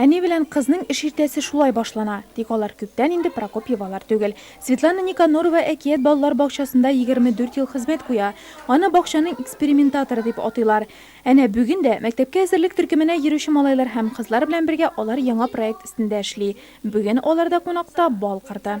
Әни белән кызның эш иртәсе шулай башлана. Тик алар күптән инде Прокопьевалар түгел. Светлана Никонорова Әкият балалар бакчасында 24 ел хезмәт куя. Аны бакчаның экспериментаторы дип атыйлар. Әнә бүген дә, мәктәпкә әзерлек төркеменә йөрүче малайлар һәм кызлар белән бергә алар яңа проект өстендә эшли. Бүген алар да кунакта, бал кырды.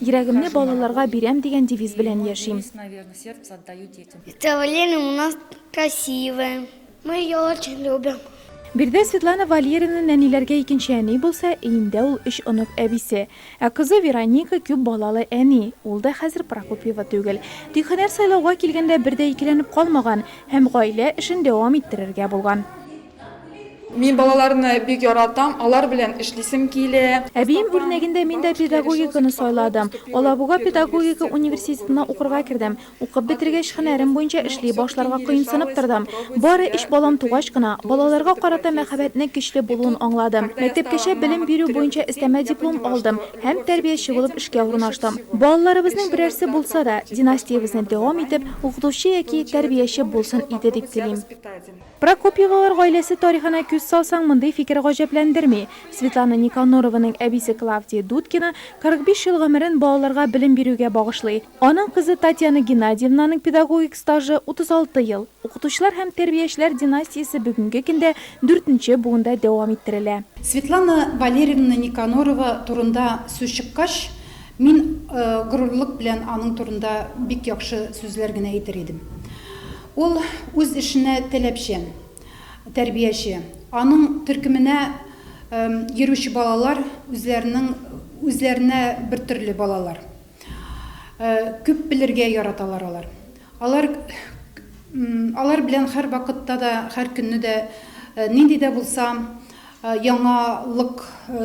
Йөрәгемне балаларга бирәм дигән девиз белән яшим. Представление у нас красивое. Мы ее очень любим. Биредә Светлана Валерина нәниләргә икенче әни булса, өендә ул өч онык әбисе. Ә кызы Вероника күп балалы әни, ул да хәзер Прокопьева түгел. Тик һөнәр сайлауга килгәндә бер дә икеләнеп калмаган һәм гаилә эшен дәвам иттерергә булган. Мин балаларны бик яратам, алар белән эшлисем килә. Әбием үрнәгендә мин дә педагогиканы сайладым. Алабуга педагогика университетына укырга кердем. Укып бетергәч, һөнәрем буенча эшли башларга кыенсынып тордым. Бары өч балам тугач кына, балаларга карата мәхәббәтнең көчле булуын аңладым. Мәктәпкәчә белем бирү буенча өстәмә диплом алдым һәм тәрбияче булып эшкә урнаштым. Балаларыбызның берәрсе булса да, династиябезне дәвам итеп, укытучы яки тәрбияче булсын иде дип телим. Прокопьевалар гаиләсе тарихына күз салсаң, мондый фикер гаҗәпләндерми. Светлана Никонорованың әбисе Клавдия Дудкина 45 ел гомерен балаларга белем бирүгә багышлый. Аның кызы Татьяна Геннадиевнаның педагогик стажы, 36 ел. Укытучылар һәм тәрбиячеләр династиясе бүгенге көндә дүртенче буында дәвам иттерелә. Светлана Валерьевна Никонорова турында сүз чыккач, мин горурлык белән аның турында бик яхшы сүзләр генә әйтер идем. Ул үз эшенә таләпчән, тәрбияче. Аның төркеменә йөрүче балалар үзләренең үзләренә бертөрле балалар. Күп белергә яраталар алар. Алар алар белән һәрвакытта да, һәр көнне дә нинди дә булса яңалык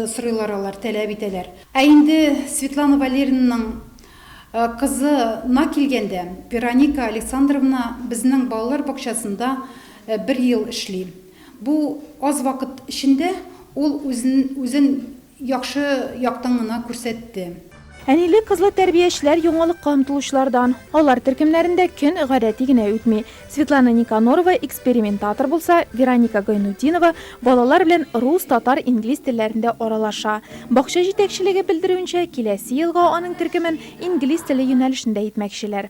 сорыйлар алар, таләп итәләр. Ә инде Светлана Валерьевнаның Кызы на килгәндә, Вероника Александровна безнең балалар бакчасында бер ел эшли. Бу аз вакыт эчендә ул үзен яхшы яктан гына күрсәтте. Әниле-кызлы тәрбиячеләр яңалыкка омтылучылардан. Алар төркемнәрендә көн гадәти генә үтми. Светлана Никонорова экспериментатор булса, Вероника Гайнутдинова балалар белән рус, татар, инглиз телләрендә аралаша. Бакча җитәкчелеге белдерүенчә, киләсе елга аның төркемен инглиз теле юнәлешендә итмәкчеләр.